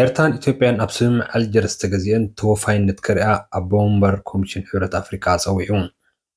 ኤርትራን ኢትዮጵያን ኣብ ስምምዕ ኣልጀርስ ዝተገዝኤን ተወፋይነት ክርእያ ኣቦ-ወንበር ኮሚሽን ሕብረት ኣፍሪቃ ጸዊዑ።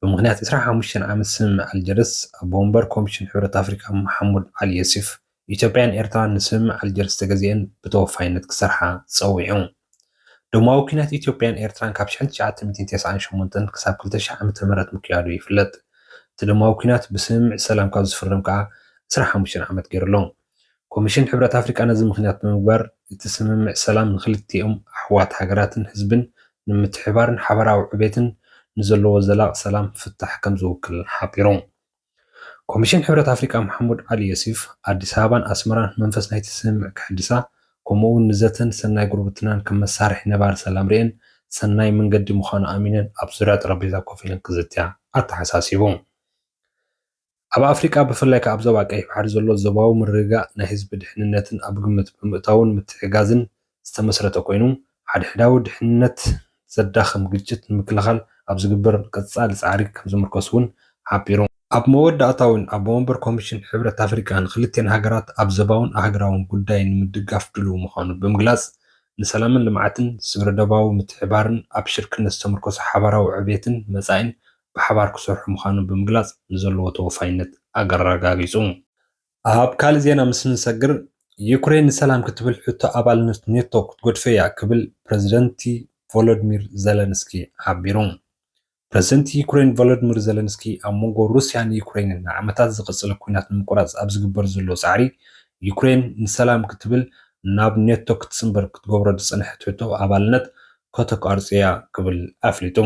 ብምኽንያት ዕስራን ሓሙሽተን ዓመት ስምምዕ ኣልጀርስ፣ ኣቦ-ወንበር ኮሚሽን ሕብረት ኣፍሪቃ መሓሙድ ዓሊ የሱፍ፣ ኢትዮጵያን ኤርትራን ንስምምዕ ኣልጀርስ ዝተገዝኤን ብተወፋይነት ክሰርሓ ጸዊዑ። ደማዊ ኲናት ኢትዮጵያን ኤርትራን ካብ ሽሕን ትሽዓተ ሚእትን ተስዓን ሸሞንተን ክሳብ ክልተ ሽሕ ዓመተ ምህረት ምክያዱ ይፍለጥ። እቲ ደማዊ ኲናት ብስምምዕ ሰላም ካብ ዝፍረም ከኣ ዕስራን ሓሙሽተን ዓመት ገይሩ ኣሎ። ኮሚሽን ሕብረት ኣፍሪቃ ነዚ ምኽንያት ብምግባር እቲ ስምምዕ ሰላም ንኽልቲኦም ኣሕዋት ሃገራትን ህዝብን ንምትሕብባርን ሓበራዊ ዕቤትን ንዘለዎ ዘላቒ ሰላም ፍታሕ ከምዝውክልን ሓቢሩ። ኮሚሽን ሕብረት ኣፍሪቃ መሓሙድ ዓሊ ዮሱፍ፣ ኣዲስ ኣበባን ኣስመራን መንፈስ ናይቲ ስምምዕ ከሐድሳ ከምኡ'ውን ንዘተን ሰናይ ጉርብትናን ከም መሳርሒ ነባሪ ሰላም ርእየን ሰናይ መንገዲ ምዃኑ ኣሚነን ኣብ ዙርያ ጠረጴዛ ኮፍ ኢለን ክዝትያ ኣተሓሳሲቡ። ኣብ ኣፍሪቃ ብፍላይ ከኣ ኣብ ዞባ ቀይሕ ባሕሪ ዘሎ ዞባዊ ምርግጋእ ናይ ህዝቢ ድሕንነትን ኣብ ግምት ብምእታውን ምትሕግጋዝን ዝተመስረተ ኮይኑ፣ ሓድሕዳዊ ድሕንነት ዘዳኽም ግጭት ንምክልኻል ኣብ ዝግበር ቀጻሊ ጻዕሪ ከምዝምርኮስ'ውን ሓቢሩ። ኣብ መወዳእታ'ውን ኣቦ መንበር ኮሚሽን ሕብረት ኣፍሪቃ ንክልቲኤን ሃገራት ኣብ ዞባውን ኣህግራውን ጉዳይ ንምድጋፍ ድሉው ምዃኑ ብምግላጽ፣ ንሰላምን ልምዓትን፣ ስግረዶባዊ ምትሕብባርን ኣብ ሽርክነት ዝተምርኮሰ ሓባራዊ ዕብየትን መጻኢን ብሓባር ክሰርሑ ምዃኖም ብምግላፅ ንዘለዎ ተወፋይነት ኣረጋጊፁ። ኣብ ካልእ ዜና ምስ እንሰግር፣ ዩክሬን ንሰላም ክትብል ሕቶ ኣባልነት ኔቶ ክትገድፎ'ያ ክብል ፕረዚደንት ቮሎድሚር ዘለንስኪ ሓቢሩ። ፕረዚደንት ዩክሬን ቮሎድሚር ዘለንስኪ ኣብ መንጎ ሩስያን ዩክሬንን ንዓመታት ዝቐጸለ ኲናት ንምቁራጽ ኣብ ዝግበር ዘሎ ጻዕሪ፣ ዩክሬን ንሰላም ክትብል ናብ ኔቶ ክትጽንበር ክትገብሮ ዝጸንሐት ሕቶ ኣባልነት ከተቋርጽ'ያ ክብል ኣፍሊጡ።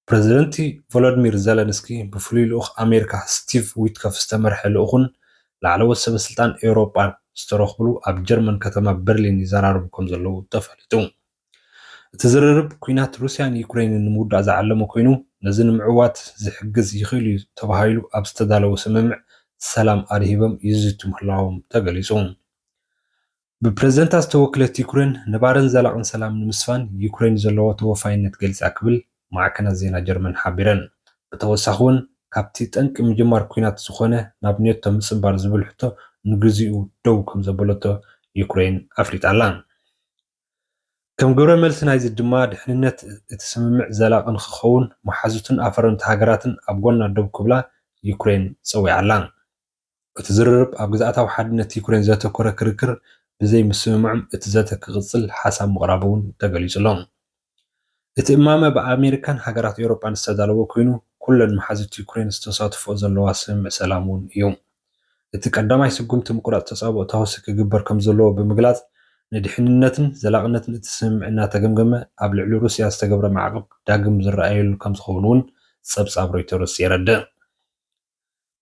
ፕረዚደንቲ ቮሎድሚር ዘለንስኪ ብፍሉይ ልኡኽ ኣሜሪካ ስቲቭ ዊትኮፍ ዝተመርሐ ልኡኹን ላዕለዎት ሰበስልጣን ኤውሮጳን ዝተረኽብሉ ኣብ ጀርመን ከተማ በርሊን ይዘራረቡ ከምዘለዉ ተፈሊጡ። እቲ ዝርርብ ኲናት ሩስያን ዩክረይንን ንምውዳእ ዝዓለመ ኮይኑ ነዚ ንምዕዋት ዝሕግዝ ይኽእል'ዩ ተባሂሉ ኣብ ዝተዳለወ ስምምዕ ሰላም ኣድሂቦም ይዝቱ ምህላዎም ተገሊጹ። ብፕረዚደንታ ዝተወክለት ዩክሬን ነባሪን ዘላቕን ሰላም ንምስፋን ዩክሬን ዘለዎ ተወፋይነት ገሊፃ ክብል ማዕከናት ዜና ጀርመን ሓቢረን። ብተወሳኺ እውን ካብቲ ጠንቂ ምጅማር ኲናት ዝኾነ ናብ ኔቶ ምፅምባር ዝብል ሕቶ ንግዚኡ ደው ከምዘበለቶ ዩክሬን ኣፍሊጣ ኣላ። ከም ግብረ መልሲ ናይዚ ድማ ድሕንነት እቲ ስምምዕ ዘላቒ ንክኸውን መሓዙትን ኣፈረምቲ ሃገራትን ኣብ ጎና ደው ክብላ ዩክሬን ፀዊዓ ኣላ። እቲ ዝርርብ ኣብ ግዝኣታዊ ሓድነት ዩክሬን ዘተኮረ ክርክር ብዘይ ምስምማዕም እቲ ዘተ ክቕጽል ሓሳብ ምቕራቡ'ውን ተገሊጹ'ሎ። እቲ እማመ ብኣሜሪካን ሃገራት ኤውሮጳን ዝተዳለወ ኮይኑ ኩለን መሓዙት ዩክሬን ዝተሳትፎኦ ዘለዋ ስምምዕ ሰላም'ውን እዩ። እቲ ቀዳማይ ስጉምቲ ምቁራጽ ተጻብኦ ተኹሲ ክግበር ከምዘለዎ ብምግላጽ ንድሕንነትን ዘላቕነትን እቲ ስምምዕ እናተገምገመ ኣብ ልዕሊ ሩስያ ዝተገብረ ማዕቕብ ዳግም ዝረኣየሉ ከምዝኸውን'ውን ጸብጻብ ሮይተርስ የረድእ።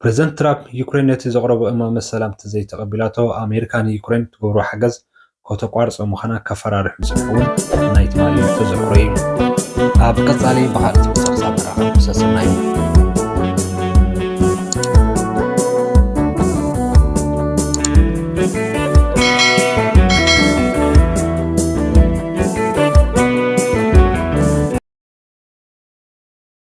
ፕረዚደንት ትራፕ፣ ዩክሬን ነቲ ዘቕረቦ እማመ ሰላም ተዘይተቐቢላቶ፣ ኣሜሪካ ንዩክሬን እትገብሮ ሓገዝ ከተቋርጾ ምዃና ከፈራርሕ ምጽንሑ እውን ናይ ትማሊ ተዘክሮ እዩ። ኣብ ቀጻሊ ብኻልእ ትሕዝቶ ክሳብ ንራኸብ ሰሰናዩ።